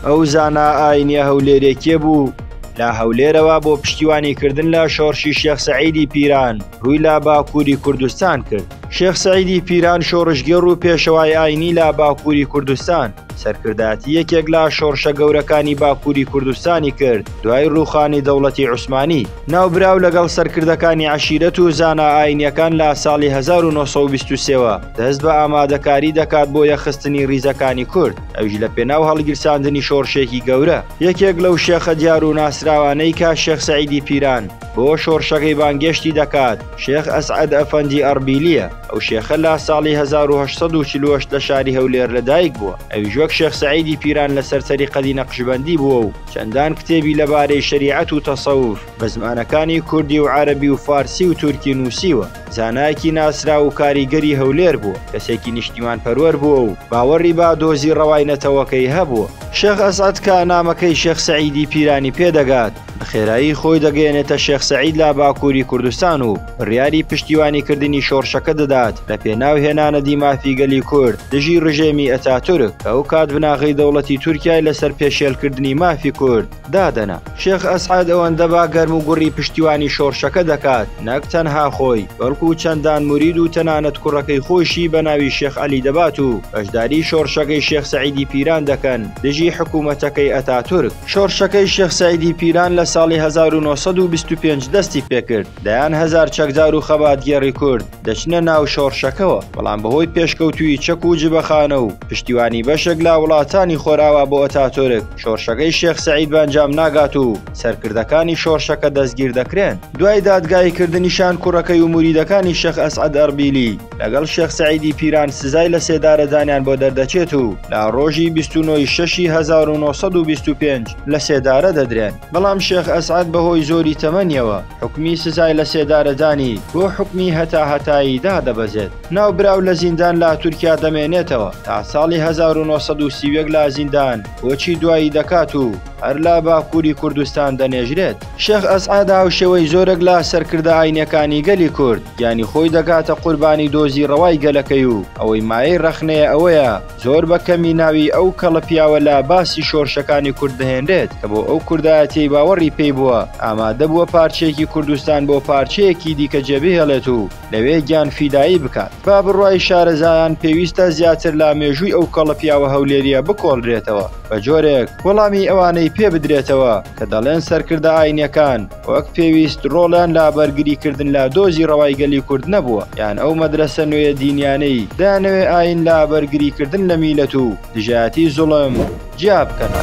ئەو زانا ئاینیە هەولێرێکێ بوو لە هەولێرەوە بۆ پشتیوانی کردن لە شۆڕشی شێخ سەعیدی پیران ڕووی لە باکووری کوردستان کرد شێخ سەعیدی پیران شۆڕشگێڕ و پێشەوای ئاینی لە باکووری کوردستان سەرکردایەتی یەکێک لە شۆڕشە گەورەکانی باکووری کوردستانی کرد دوای ڕووخانی دەوڵەتی عوسمانی ناوبراو لەگەڵ سەرکردەکانی عشیرەت و زانا ئاینیەکان لە ساڵی 1920ەوە دەست بە ئامادەکاری دەکات بۆ یەخستنی ڕیزەکانی کورد ئەویش لە پێناو هەڵگیرساندنی شۆڕشێکی گەورە یەکێک لەو شێخە دیار و ناسراوانەی کە شێخ سەعیدی پیران بۆ شۆڕشەکەی بانگێشتی دەکات شێخ ئەسعەد ئەفەندی ئەڕبیلیە ئەو شێخە لە ساڵی 1940 لە شاری هەولێر لەدایک بووە ئەویش وەک شێخ سەعیدی پیران لەسەر تەریقەتی نەقشبەندی بووە و چەندان کتێبی لەبارەی شەریعەت و تەسەوف بە زمانەکانی کوردی و عەرەبی و فارسی و تورکی نووسیوە. زانایەکی ناسراو و کاریگەری هەولێر بووە، کەسێکی نیشتیمانپەروەر بووە و باوەڕی بە دۆزی ڕەوای نەتەوەکەی هەبووە. شێخ ئەسعەد کە نامەکەی شێخ سەعیدی پیرانی پێ دەگات، بە خێرایی خۆی دەگەیەنێتە شێخ سەعید لە باکووری کوردستان و بڕیاری پشتیوانیکردنی شۆڕشەکە دەدات لە پێناو هێنانەدی مافی گەلی کورد دژی ڕژێمی ئەتاتورک کە ئەوکات بناغەی دەوڵەتی تورکیای لەسەر پێشێلکردنی مافی کورد دادەنا. شێخ ئەسعەد ئەوەندە با گەرم و گوڕی پشتیوانی شۆڕشەکە دەکات، نەک تەنها خۆی، بەڵکو چەندان مورید و تەنانەت کوڕەکەی خۆیشی بە ناوی شێخ عەلی دەبات و بەشداری شۆڕشەکەی شێخ سەعیدی پیران دەکەن دژی حکوومەتەکەی ئەتاتورک. شۆڕشەکەی شێخ سەعیدی پیران لە ساڵی هەزار و نۆ سەد و بیست و پێنج دەستی پێکرد، دەیان هەزار چەکدار و خەباتگێڕی کورد، دەچنە ناو شۆڕشەکەوە بەڵام بەهۆی پێشکەوتوی چەک و جبەخانە و پشتیوانی بەشێک لا وڵاتانی خۆراوا بۆ ئەتاتۆرک شۆرشەکەی شێخ سعید بەنجام ناگات و سەرکردەکانی شۆرشەکە دەستگیر دەکرێن دوای دادگایی کردنیشان کوڕەکەی و موریدەکانی شەخ ئەسعد ئەربیلی لەگەڵ شێخ سعیدی پیران سزای لە سێدارەدانیان بۆ دەردەچێت و لا ڕۆژی 29 شەشی 1925 لە سێدارە دەدرێن. بەڵام شێخ ئەسعەد بەهۆی زۆری تەمەنیەوە حوکمی سزای لە سێدارەدانی بۆ حوکمی هەتاهەتایی دادەبەزێت. ناوبراو لە زیندان لە تورکیا دەمێنێتەوە تا ساڵی هەزار و نۆ سەد و سی و یەک لە زیندان کۆچی دوایی دەکات و هەر لە باکووری کوردستان دەنێژرێت. شێخ ئەسعەد هاوشێوەی زۆرێک لە سەرکردە ئاینیەکانی گەلی کورد گیانی خۆی دەکاتە قوربانی دۆزی ڕەوای گەلەکەی و ئەوەی مایەی ڕەخنەیە ئەوەیە، زۆر بە کەمی ناوی ئەو کەڵە پیاوە لە باسی شۆرشەکانی کورد دەهێنرێت کە بۆ ئەو کوردایەتیەی باوەڕی پێی بووە ئامادە بووە پارچەیەکی کوردستان بۆ پارچەیەکی دیکە جێ بهێڵێت و لەوێ گیان فیدایی بکات بە بڕوای شارەزایان پێویستە زیاتر لە مێژووی ئەو کەڵە پیاوە هەولێریە بکۆڵرێتەوە بە جۆرێک وەڵامی ئەوانەی پێ بدرێتەوە کە دەڵێن سەرکردە ئاینیەکان وەک پێویست ڕۆڵیان لە بەرگریکردن لە دۆزی ڕەوای گەلی کورد نەبووە، یان ئەو مەدرەسە نوێیە دینیانەی دەیانەوێ ئایین لە بەرگریکردن لە میللەت و دژایەتی زوڵم جیا بکەنە.